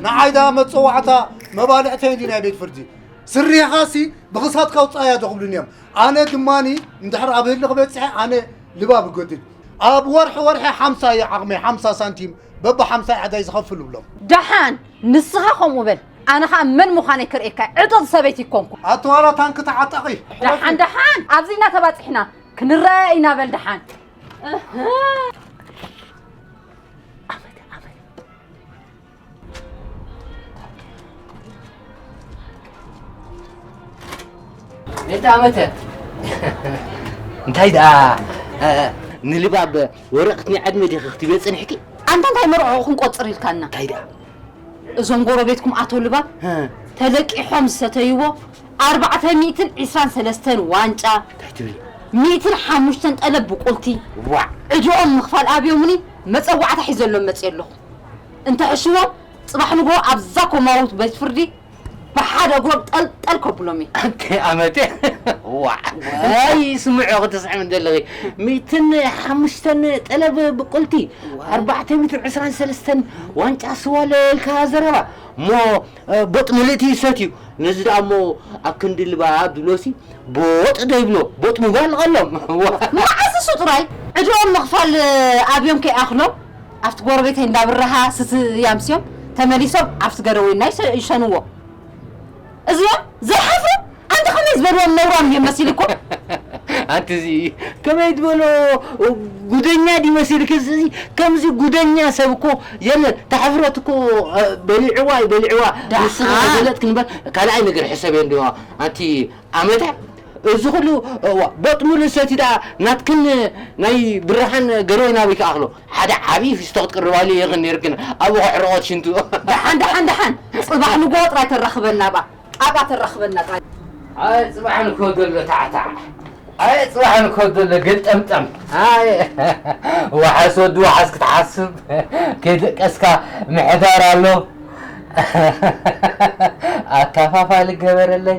ንዓይ ደኣ መፀዋዕታ መባልዕተይ እንዲ ናይ ቤት ፍርዲ ስሪኻሲ ብኽሳትካ ውፃእ እያ ዶ ክብሉኒ እዮም ኣነ ድማኒ እንድሕር ኣብ ህልኽ በፂሐ ኣነ ልባብ እጎድል ኣብ ወርሒ ወርሒ ሓምሳ እየ ዓቕመይ ሓምሳ ሳንቲም በቢ ሓምሳ ዕዳይ ዝኸፍል እብሎም ደሓን ንስኻ ከምኡ በል ኣነ ከዓ መን ምዃነይ ክርእየካ ዕጡቕ ሰበይቲ ይኮንኩ ኣተዋላ ታንኪ ተዓጠቒ ደሓን ደሓን ኣብዚ ኢና ተባፂሕና ክንረኣያ ኢና በል ደሓን እህ። እንተ ኣመተ እንታይ ደኣ ንልባብ ወረቕት ናይ ዕድመ ዲኺ ክትብዮ ፅንሕኪ ኣንታ እንታይ መርዖ ክንቆፅር ኢልካና እንታይ ደኣ እዞም ጎረቤትኩም ኣቶ ልባብ ተለቂሖም ዝሰተይዎ ኣርባዕተ ሚእትን ዒስራን ሰለስተን ዋንጫ እንታይ ትብሊ ሚእትን ሓሙሽተን ጠለብ ብቁልቲ ዕድኦም ምኽፋል ኣብዮምኒ መፀዋዕታ ሒዘሎም መፅየ ኣለኹ እንተሕሽዎም ጽባሕ ንግሆ ኣብዛ ኮማዊት ቤት ፍርዲ ብሓደ እግሮም ጠልጠል ከብሎም እየ። ኣንተ ኣመተ ዋዕ ዋይ ስምዑ ክትስዕሚ ዘለኺ ሚእትን ሓሙሽተን ጠለብ ብቁልቲ ኣርባዕተ ሚእትን ዕስራን ሰለስተን ዋንጫ ስዋ ለልካ ዘረባ እሞ ቦጥ ምልእቲ ይሰትዩ ነዚ ደኣ እሞ ኣብ ክንዲ ልባ ዱሎሲ ቦጥ ዶ ይብሎ ቦጥ ምባል ቐሎም መዓስ ንሱ ጥራይ ዕድኦም ምኽፋል ኣብዮም ከይኣኽሎም ኣብቲ ጎረቤተይ እንዳ ብራሃ ስትያ ምስዮም ተመሊሶም ኣብቲ ገረወይና ይሰ- ይሸንዎ እዚኦም ዘይሓፍሩ ኣንተ ከመይ ዝበልዎም ነውራም እዮም መሲሉ እኮ ኣንቲ እዚ ከመይ ትበሎ ጉደኛ ድዩ መሲልክ እዚ እዚ ከምዚ ጉደኛ ሰብ እኮ የለን ታሕፍረት እኮ እ፣ በሊዕዋ እዩ በሊዕዋ ንስኺ ደኣ። ተገለጥክ ንበር ካልኣይ ነገር ሕሰብ እንዲዋ ኣንቲ ኣመታ እዚ ኩሉ እዋ ቦጥ ምሉእ ሰቲታ ናትክን ናይ ብራሃን ገሬ ናበይ ክኣክሎ ሓደ ዓቢ ፊስቶ ክትቅርባሉ ኢክን ነርክን ኣብኡ ከሕርቆት ሽንቱ። ደሓን ደሓን ደሓን ጽባሕ ንግሆ ጥራይ ተራኽበና ኣብኣ ኣብኣ ተራኽበና ጥራይ። ኣየ ጽባሕ ንግሆ ዘሎ ታዕታዕ ኣየ ጽባሕ ንግሆ ዘሎ ገልጠምጠም ኣየ ዋሕስ ወዲ ዋሕስ ክትሓስብ ከይደቀስካ ምሕዳር ኣሎ ኣካፋፋሊ ገበረለይ።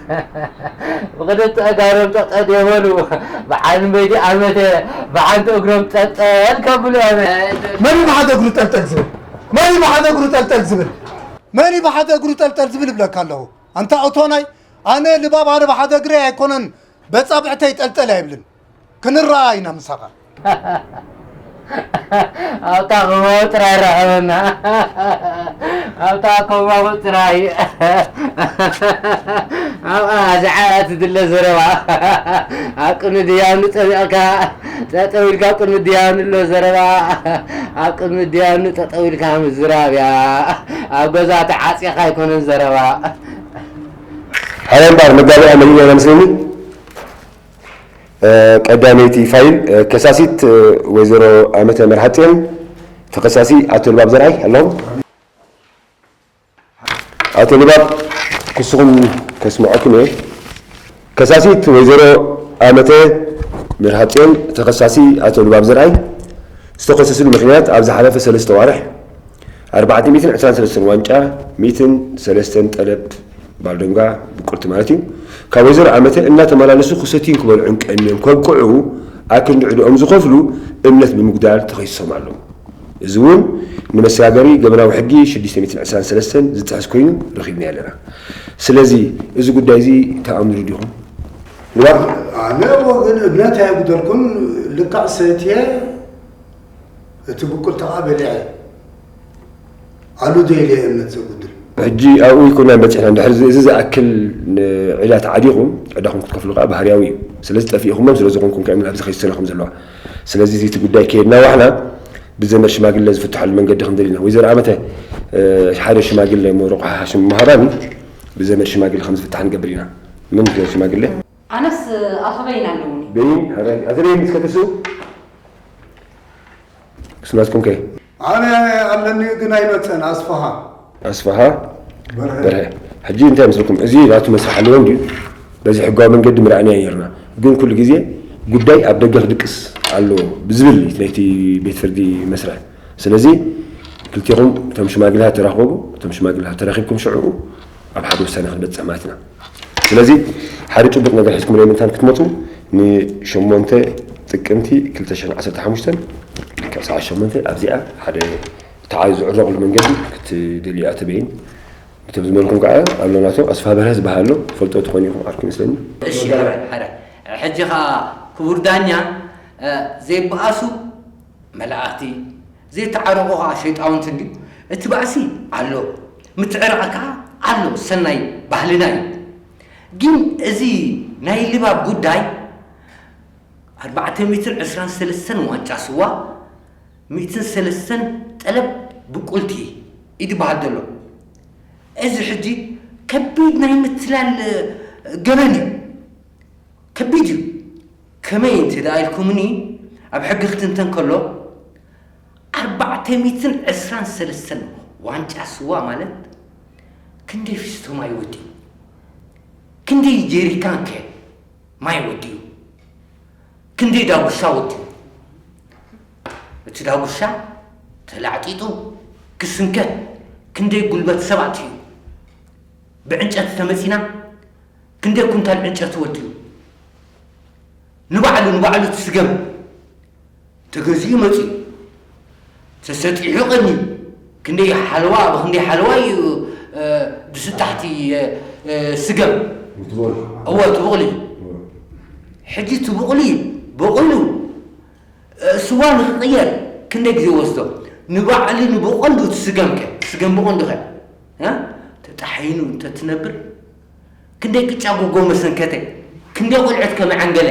ብክልተ ኣእጋሮም ጠጠ የበሉ ብዓል መይዲ ኣመተ ብሓንቲ እግሮም ጠልጠል ከብሉ ኣመ መን ብሓደ እግሩ ጠልጠል ዝብል መን ብሓደ እግሩ ጠልጠል ዝብል መን እዩ ብሓደ እግሩ ጠልጠል ዝብል ይብለካ ኣለኹ ኣንታ እቶናይ ኣነ ልባብ ኣነ ብሓደ እግረይ ኣይኮነን በፃብዕተይ ጠልጠል ኣይብልን ክንረኣ ኢና ምሳኻ ኣብታ ኮማዊ ጥራይ ራኸበና ኣብታ ኮማዊ ጥራይ ኣብኣ ዝዓያ ትድለ ዘረባ ኣብ ቅድሚ ድያኑ ፀሚቕካ ጠጠው ኢልካ ኣብ ቅድሚ ድያኑ ኣሎ ዘረባ ኣብ ቅድሚ ድያኑ ጠጠው ኢልካ ምዝራብ እያ ኣብ ገዛ ተዓፂኻ ኣይኮነን ዘረባ ሓላይ ባር መጋቢያ መሊእ ነመስለኒ ቀዳመይቲ ፋይል፣ ከሳሲት ወይዘሮ ኣመተ መርሃጼን ተኸሳሲ ኣቶ ልባብ ዘርኣይ ኣለኹም? ኣቶ ልባብ፣ ክስኹም ከስምዐኩም እየ። ከሳሲት ወይዘሮ ኣመተ መርሃጼን ተኸሳሲ ኣቶ ልባብ ዘርኣይ ዝተኸሰስሉ ምኽንያት ኣብ ዝሓለፈ ሰለስተ ኣዋርሕ ኣርባዕተ ሚእትን ዕስራን ሰለስተን ዋንጫ ሚእትን ሰለስተን ጠለብ ባልዶንጋ ብቁርቲ ማለት እዩ ካብ ወይዘሮ ኣመተ እናተመላለሱ ክሰትዩን ክበልዑን ቀንዮም ከብቅዑ ኣክንዲ ዕድኦም ዝኸፍሉ እምነት ብምጉዳል ተኸሲሶም ኣለዉ። እዚ እውን ንመሰጋገሪ ገበናዊ ሕጊ ሽዱሽተ ሚእትን ዕስራን ሰለስተን ዝጥሕስ ኮይኑ ረኺብናዮ ኣለና። ስለዚ እዚ ጉዳይ እዚ ተኣምኑ ዲኹም? እዋእ ኣነ ብወገን እምነት ኣይጉደልኩን ልክዕ ሰትየ። እቲ ብቁልታዓ በሊዐ ኣሉ ዶ ኢለ እምነት ዘጉድል። ሕጂ ኣብኡ ኣይኮናን በጺሕና ድሕሪ እዚ ዝኣክል ዕዳ ተዓዲኹም ዕዳኹም ክትከፍሉ ከኣ ባህርያዊ እዩ ስለዚ ጠፊኢኹሞም ስለ ዝኾንኩም ከ እየን ኣብዚ ከይሲ ሰናኹም ዘለዋ ስለዚ እዚ እቲ ጉዳይ ከየድና ዋሕና ብዘመድ ሽማግለ ዝፍትሓሉ መንገዲ ክንደሊ ኢና ወይዘሮ ኣመተ ሓደ ሽማግለ እሞ ርቑሓ ሽም ምሃባኒ ብዘመድ ሽማግለ ከም ዝፍታሕ ንገብር ኢና ምን ሽማግለ ኣነስ ኣቶ በይን ኣለዉኒ። በይን ኣረ ኣቶ በይን እስከ ትስኡ ምስ ናትኩም ከ ኣነ ኣለኒ ግን ኣይመፀን ኣስፋሃ ኣስፋሃ በርሀ ሕጂ እንታይ መስልኩም እዚ ናቱ መስርሕ ኣለዎ እንድዩ በዚ ሕጋዊ መንገዲ ምርኣናዮ ነርና ግን ኩሉ ግዜ ጉዳይ ኣብ ደገ ክድቅስ ኣለዎ ብዝብል ናይቲ ቤት ፍርዲ መስርሕ ስለዚ ክልቴኹም እቶም ሽማግለታት ተራኸቡ እቶም ሽማግለታት ተራኺብኩም ሽዑ ኣብ ሓደ ውሳነ ክንበጽሕ ማለት ኢና። ስለዚ ሓደ ጭቡጥ ነገር ሒዝኩም ናይ ምንታን ክትመጹ ንሸሞንተ ጥቅምቲ ክልተ ሽሕን ዓሰርተ ሓሙሽተን ካብ ሰዓት ሸሞንተ ኣብዚኣ ሓደ ተዓዩ ዝዕረቕሉ መንገዲ ክትደልዩ እያ ተበይን ብቶም ዝመልኩም ከዓ ኣሎ ናቶ ኣስፋ በርሀ ዝበሃል ኣሎ ፈልጦ ትኾኑ ኢኹም ዓርኩ ይመስለኒ እሺ ሐረ ሐረ ሕጂ ከዓ ክቡር ዳኛ ዘይበኣሱ መላእኽቲ ዘይተዓረቑ ኸኣ ሸይጣውንቲ እንድዩ። እቲ ባእሲ ኣሎ፣ ምትዕራቕ ከኣ ኣሎ፣ ሰናይ ባህልና እዩ። ግን እዚ ናይ ልባብ ጉዳይ ኣርባዕተ ሚእትን ዕስራን ሰለስተን ዋንጫ ስዋ፣ ሚእትን ሰለስተን ጠለብ ብቁልቲ እዩ ዝበሃል ዘሎ። እዚ ሕጂ ከቢድ ናይ ምትላል ገበን እዩ። ከቢድ እዩ። ከመይ እንተ ደኣ ኢልኩምኒ፣ ኣብ ሕጊ ክትንተን ከሎ፣ ኣርባዕተ ሚእትን ዕስራን ሰለስተን ዋንጫ ስዋ ማለት ክንደይ ፊስቶ ማይ ወዲኡ? ክንደይ ጀሪካንከ ማይ ወዲኡ? ክንደይ ዳጉሻ ወዲኡ? እቲ ዳጉሻ ተላዕጢጡ ክስንከት ክንደይ ጉልበት ሰባት እዩ ብዕንጨት ተመጺና ክንደይ ኩንታል ዕንጨቲ ወዲኡ ንባዕሉ ንባዕሉ እቲ ስገም ተገዚኡ መጺኡ ተሰጢሑ ቀንዩ ክንደይ ሓለዋ ኣብ ክንደይ ሓለዋ እዩ ድስጣሕቲ ስገም እወ ትብቕሉ እዩ ሕጂ ትብቕሉ እዩ በቑሉ ስዋ ንክቕየር ክንደይ ግዜ ወስዶ ንባዕሉ ንብቐንዱ እቲ ስገምከ ስገም ብቐንዱኸ ተጣሒኑ እንተትነብር ክንደይ ቅጫ ጉጎ መሰንከተ ክንደይ ቆልዑት ከ መዐንገለ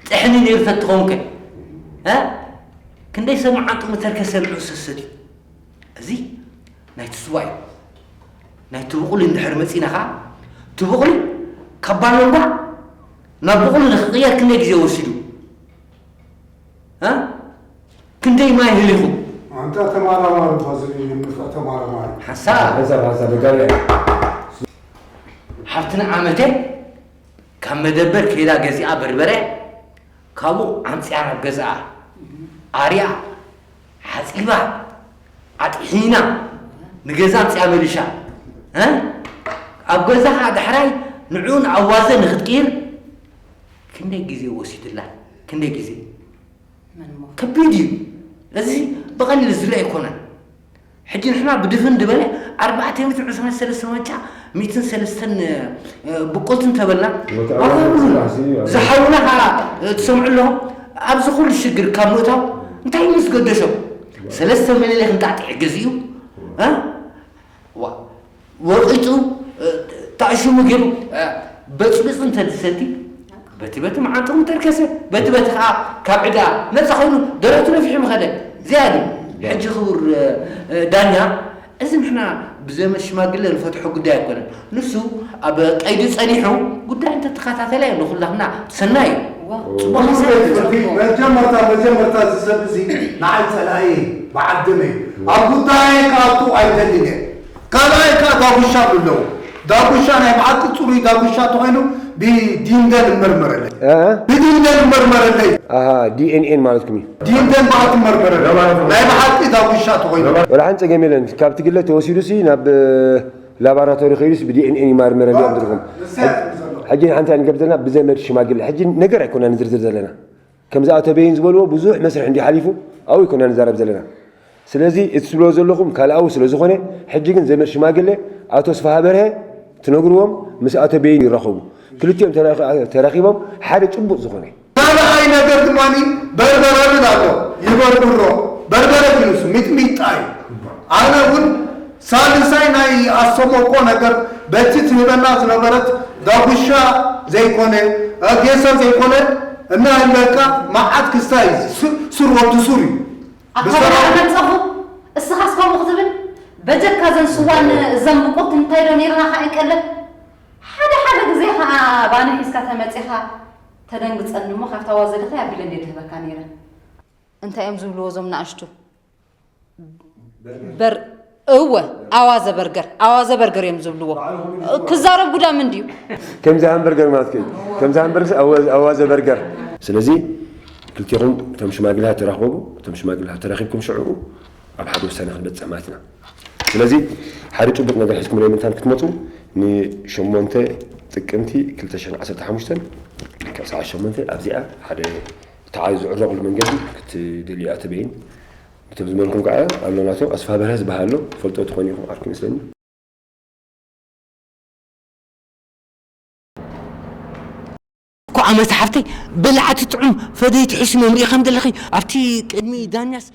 ጥሕኒ ነይሩ ተትኸውን ከ እ ክንደይ ሰብ መዓንጡ ምተርከ ሰምዑ ሰሰትዩ እዚ ናይ ትስዋ እዩ ናይ ትብቑሊ እንድሕር መፂና ከዓ ትብቑሊ ካብ ባሎንጓ ናብ ብቑሊ ንክቕየር ክንደይ ግዜ ወሲዱ ክንደይ ማይ ህሊኹም ኣንታ ተማራማሪ እኳ ዝርኢ ንፍዕ ተማራማሪ ሓሳብ ሓሳብ ሓሳብ ደጋቢ ሓብትና ዓመተ ካብ መደበር ከይዳ ገዚኣ በርበረ ካብኡ ዓምፅያ ናብ ገዝኣ ኣርያ ሓፂባ ኣጥሒና ንገዛ ኣምፅያ መሊሻ ኣብ ገዛኻ ዳሕራይ ንዑን ኣዋዘ ንክትቅይር ክንደይ ግዜ ወሲድላ ክንደይ ግዜ መንሞ ከቢድ እዩ እዚ ብቐሊል ዝርእ ኣይኮነን ሕጂ ንሕና ብድፍን ድበለ ኣርባዕተ ሚትን ዕስራን ሰለስተ ዋንጫ ሚትን ሰለስተን ብቁልትን ተበልና ኣኸብሉና ዝሓውና ከዓ ትሰምዑ ኣለኹም ኣብዚ ኩሉ ሽግር ካብ ምእታው እንታይ ምስ ገደሾም ሰለስተ ምልሌ ክንጣጥዕ ግዚኡ ወቂጡ ታእሽሙ ገይሩ በጽቢጹ እንተ ዝሰቲ በቲ በቲ መዓንጥሩ እንተርከሰ በቲ በቲ ከዓ ካብ ዕዳ ነፃ ኮይኑ ደረቱ ነፊሑ ምኸደ እዚኣ ድዩ ሕጂ ክቡር ዳኛ እዚ ንሕና ብዘመ ሽማግለ ንፈትሖ ጉዳይ ኣይኮነን ንሱ ኣብ ቀይዲ ጸኒሑ ጉዳይ እንተተኸታተለ እዩ ንኹላትና ሰናይ እዩ መጀመርታ መጀመርታ እዚ ሰብ እዚ ንዓይ ፀላኢ በዓል ደመ እዩ ኣብ ጉዳይ ክኣቱ ኣይደልን እየ ካልኣይ ከኣ ዳጉሻ ብለው ዳጉሻ ናይ ብሓቂ ጽሩይ ዳጉሻ ተኮይኑ ብ ዲንደ ንመርመረለይ ብዲንደ ንመርመረለይ። ኣሃ ዲኤንኤን ማለትኩም እዩ። ዲንደን በኣ ትመርመረለይ ናይ ብሓቂ ዳጉሻ ተኮይኑ። ወላ ሓንቲ ጸገም የለን ካብቲ ግለ ተወሲዱሲ ናብ ላባራቶሪ ከይዱስ ብዲኤንኤን ይማርመረለይ እዮም ዝብልኩም። ንሳ እያ ትብል ዘሎ። ሕጂ ንሓንቲ ኣንገብር ዘለና ብዘመድ ሽማግለ ሕጂ ነገር ኣይኮናን ንዝርዝር ዘለና። ከምዚ ኣቶ በይን ዝበልዎ ብዙሕ መስርሕ እንድዩ ሓሊፉ ኣብኡ ኣይኮናን ንዛረብ ዘለና ስለዚ እቲ ትብልዎ ዘለኹም ካልኣዊ ስለ ዝኾነ ሕጂ ግን ዘመድ ሽማግለ ኣቶ ስፍሃበርሀ ትነግርዎም ምስ ኣቶ በይን ይራኸቡ ክልቲኦም ተራኺቦም ሓደ ጭቡጥ ዝኾነ ካልኣይ ነገር ድማ በርበረ እብል ኣሎ ይበርብሮ በርበረ ግን ንሱ ሚጥሚጣ እዩ ኣነ እውን ሳልሳይ ናይ ኣሰሞኮ ነገር በቲ ትህበና ዝነበረት ዳጉሻ ዘይኮነ ጌሰ ዘይኮነ እናህለካ ማዓት ክስታ እዩ እዚ ሱር ወዲ ሱር እዩ ብሰራዊት ኣታበለ ኣመጸኹ እስኻስ ከምኡ ክትብል በጀካ ዘን ስዋን እዘን ብቁልቲ እንታይ ዶ ነይርና ካኣ ቀለብ ሓደ ሓደ ግዜ ካኣ ባኒ ሒዝካ ተመጺኻ ተደንግጸኒ እሞ ካብታ ዋዘድኺ ኣቢለ እንድየ ድህበካ ነይረ እንታይ እዮም ዝብልዎ እዞም ናኣሽቱ በር እወ ኣዋዘ በርገር ኣዋዘ በርገር እዮም ዝብልዎ ክዛረብ ጉዳ ምን ድዩ ከምዚ ሃምበርገር ማለት ከዩ ከምዚ ሃምበርገር ኣዋዘ በርገር ስለዚ ክልቴኹም እቶም ሽማግሌታት ተራኸቡ እቶም ሽማግሌታት ተራኺብኩም ሽዑ ኣብ ሓደ ውሳነ ክንበፅሕ ማለት ኢና ስለዚ ሓደ ጭቡጥ ነገር ሒዝኩም ናይ ምንታን ክትመፁ ንሸሞንተ ጥቅምቲ 215 ካብ ሰዓት ሸሞንተ ኣብዚኣ ሓደ እታ ዝዕረቕሉ መንገዲ ክትደልዩ'ያ ትበይን ብቶም ዝመርሑም ከኣ ኣሎ ናቶም ኣስፋበርሀ ዝበሃል ኣሎ ትፈልጥዎ ትኾኑ ኢኹም ዓርኩ ይመስለኒ። ኳዕ መሳሕፍተይ በላዕቲ ጥዑም ፈደይቲ ሒስሞም ሪኢኻም ዘለኺ ኣብቲ ቅድሚ ዳኛስ።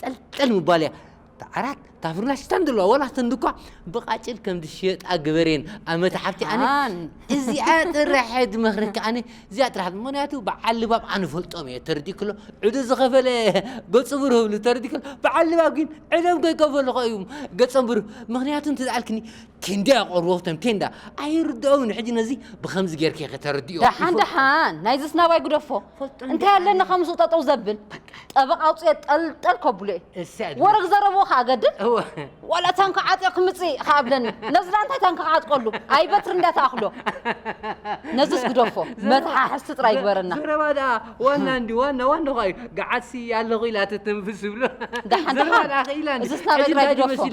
ጠልጠል ምባል እያ። እታ ዓራት እታ ፍርናሽ እታ ንድለዋ ወላ እተን ድኳ ብቃጭል ከም ዝሽየጣ ግበርየን ኣመታ ሓብቲ ኣነ ደሓን እዚኣ ጥራሕ እየ ዝመኽረኪ ኣነ እዚኣ ጥራሕ ምክንያቱ በዓል ልባም ኣነ ፈልጦም እየ ተረዲእክሎ ዕዱ ዝኸፈለ ገጹ ብሩህ እብሉ ተረዲእክሎ በዓል ልባም ግን ዕዶም ከይከፈሉ ከ እዩም ገጾም ብሩህ ምክንያቱ እንተዝኣልክኒ ክንደይ ኣቐርቦ ቶም ቴንዳ ኣይርድኦውን ሕጂ ነዚ ብከምዚ ጌርኪ ከተርድዮ ደሓን ደሓን ናይ ዝስናባይ ጉደፎ እንታይ ኣለኒ ካብ ምስኡ ጠጠው ዘብል ጠበቕ ኣውፅኦ ጠልጠል ከብሎ እየ ወረግ ዘረብዎ ከዓ ገድል ዋላ ታንካ ዓጥዮ ክምፅእ ከዓ ኣብለኒ ነዚ ዳ እንታይ ታንካ ክዓጥቀሉ ኣይ በትሪ እንዳ ተኣኽሎ ነዚስ ጉደፎ መተሓሕዝቲ ጥራይ ይግበረና ዘረባ ደኣ ዋና እንዲ ዋና ዋና ኳ እዩ ገዓሲ ኣለኹ ኢላ ትትንፍስ ይብሎ ደሓን ደሓን እዚ ስናባይ ጥራይ ጉደፎ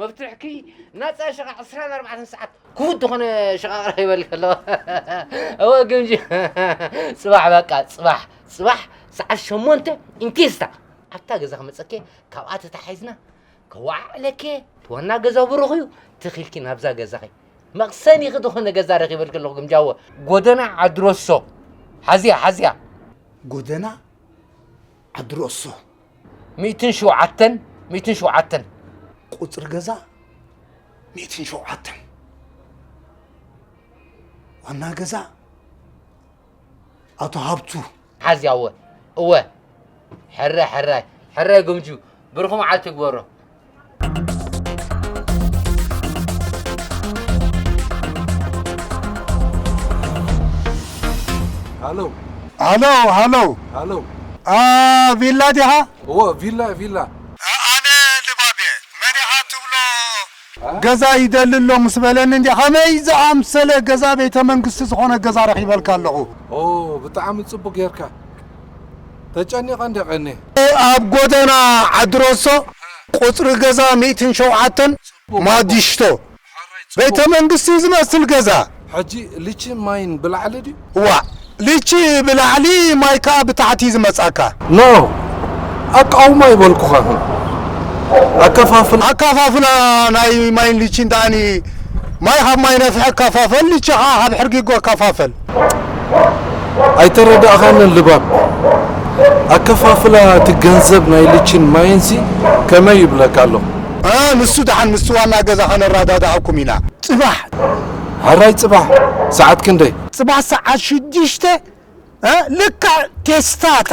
መፍትሕኪ ናጻ ሸቃ ዕስራን ኣርባዕተን ሰዓት ክቡድ ዝኾነ ሸቃቅራ ይበልክ ኣለዋ እወ ግምጂ ጽባሕ በቃ ጽባሕ ጽባሕ ሰዓት ሸሞንተ ኢንኬስታ ኣብታ ገዛ ክመጸኬ ካብኣ ተታሒዝና ከዋዕዕለኬ ትዋና ገዛ ብሩኽ እዩ ትኺልኪ ናብዛ ገዛኺ መቕሰኒኺ ዝኾነ ገዛ ረኺበልክ ኣለኹ ግምጃወ ጎደና ዓድሮሶ ሓዝያ ሓዝያ ጎደና ዓዲ ሮሶ ሚእትን ሸውዓተን ሚእትን ሸውዓተን ቁፅሪ ገዛ ሚእትን ሸውዓተን ዋና ገዛ ኣቶ ሃብቱ ሓዝያ እወ እወ ሕረ ሕራይ ሕራይ ግምጁ ብርኹ መዓልቲ ይግበሮ ሃሎ ሃሎ ሃሎ ሃሎ ኣ ቪላ ዲኻ እዎ ቪላ ቪላ ኣነ ልባብ እየ መን ኢኻ ትብሎ ገዛ ይደሊ ኣሎ ምስ በለኒ እንዲ ከመይ ዝኣምሰለ ገዛ ቤተ መንግስቲ ዝኾነ ገዛ ረኺበልካ ኣለኹ ኦ ብጣዕሚ ጽቡቅ ጌርካ ተጨኒቐ እንድየ ቀንየ። ኣብ ጎደና ዓዲሮሶ ቁፅሪ ገዛ ሚእትን ሸውዓተን ማዲሽቶ ቤተ መንግስቲ ዝመስል ገዛ። ሕጂ ሊቺ ማይን ብላዕሊ ድዩ? ዋእ ሊቺ ብላዕሊ ማይ ከኣ ብታሕቲ እዩ ዝመጻካ። ኖእ ኣቃውማ ኣይበልኩኻን ኣከፋፍላ። ኣከፋፍላ ናይ ማይን ሊቺን ደኣኒ ማይ ካብ ማይ ነፍሒ ኣከፋፈል ሊቺ ከኣ ካብ ሕርጊጎ ኣከፋፈል። ኣይተረዳእኻንን ልባም ኣከፋፍላ እቲ ገንዘብ ናይ ልቺን ማይን ሲ ከመይ ይብለካ ኣሎ። ኣህ ንሱ ደሓን ምስቲ ዋና ገዛ ከነረዳድኣኩም ኢና። ጽባሕ ሐራይ ጽባሕ ሰዓት ክንደይ? ጽባሕ ሰዓት ሽዱሽተ ልክዕ ቴስታታ።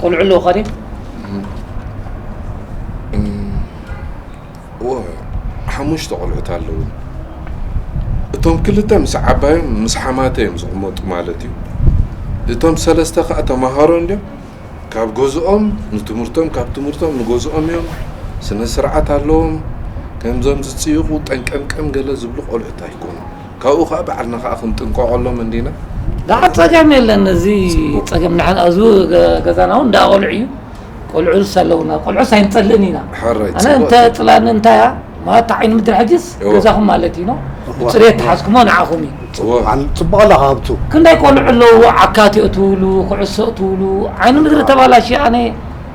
ቆልዑ ኣለውካ ድዩ እወ ሓሙሽተ ቆልዑት ኣለዉ እቶም ክልተ ምስ ዓባዮም ምስ ሓማተ እዮም ዝቕመጡ ማለት እዩ እቶም ሰለስተ ከዓ ተምሃሮ እንድዮም ካብ ገዝኦም ንትምህርቶም ካብ ትምህርቶም ንገዝኦም እዮም ስነ ስርዓት ኣለዎም ከምዞም ዝፅይቑ ጠንቀምቀም ገለ ዝብሉ ቆልዑት ኣይኮኑ ካብኡ ከኣ ባዕልና ከኣ ክንጥንቀቐሎም እንዲና። ዳሓር ጸገም የለን እዚ ጸገም ንሕና እዚ ገዛና እውን እንዳ ቆልዑ እዩ ቆልዑስ ኣለውና ቆልዑስ ኣይንጸልእን ኢና ኣነ እንተ ጽላኒ እንታይ እያ ማለት ዓይኒ ምድሪ ሕጅስ ገዛኹም ማለት እዩ ብፅሬት ተሓዝኩሞ ንዓኹም እዩ ፅቡቕ ኣለካ ሃብቱ ክንደይ ቆልዑ ኣለዉ ዓካት እትብሉ ኩዕሶ እትብሉ ዓይኒ ምድሪ ተባላሽ ኣነ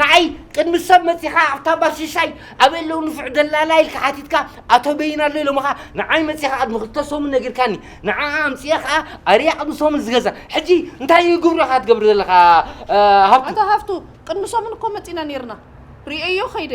ንዓይ ቅድሚ ሰብ መጺኻ ኣብታ ባር ሽሻይ ኣበይ ኣለዉ ንፉዕ ደላላ ኢልካ ሓቲትካ ኣቶ በይን ኣሎ ኢሎምኻ ንዓይ መጺኻ ቅድሚ ክልተ ሰሙን ነጊርካኒ ንዓኣ ኣምጽኤ ከኣ ኣርያ ቅድሚ ሰሙን ዝገዛ ሕጂ እንታይ እዩ ግብርኻ ትገብር ዘለኻ ሃብቱ ኣቶ ሃፍቱ ቅድሚ ሰሙን እኮ መጺና ኔርና ርእየዮ ከይደ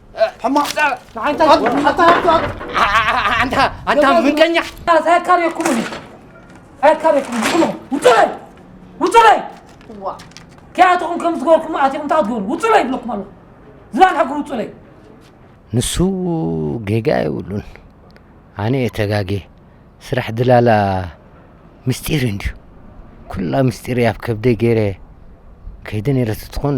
ሕማቕ ንዓንታ ንዓንታ ኣንታ ኣንታ ምቀኛ ሳያካርየኩም እኔ ሳያካርየኩም ዝኹኑ ውጭ በይ ውጭ በይ እዋ ከያትኹም ከም ዝገበርኩም ኣትኹም እንታይ ትገብሩ ውጭ በይ ይብለኩም ኣለኹ ዝባን ሕግሩ ውጭ በይ ንሱ ጌጋ የብሉን ኣነ እየ ተጋጌ ስራሕ ድላላ ምስጢር እንድዩ ኩላ ምስጢር እያ ኣብ ከብደይ ገይረ ከይደ ነይረ ትትኾን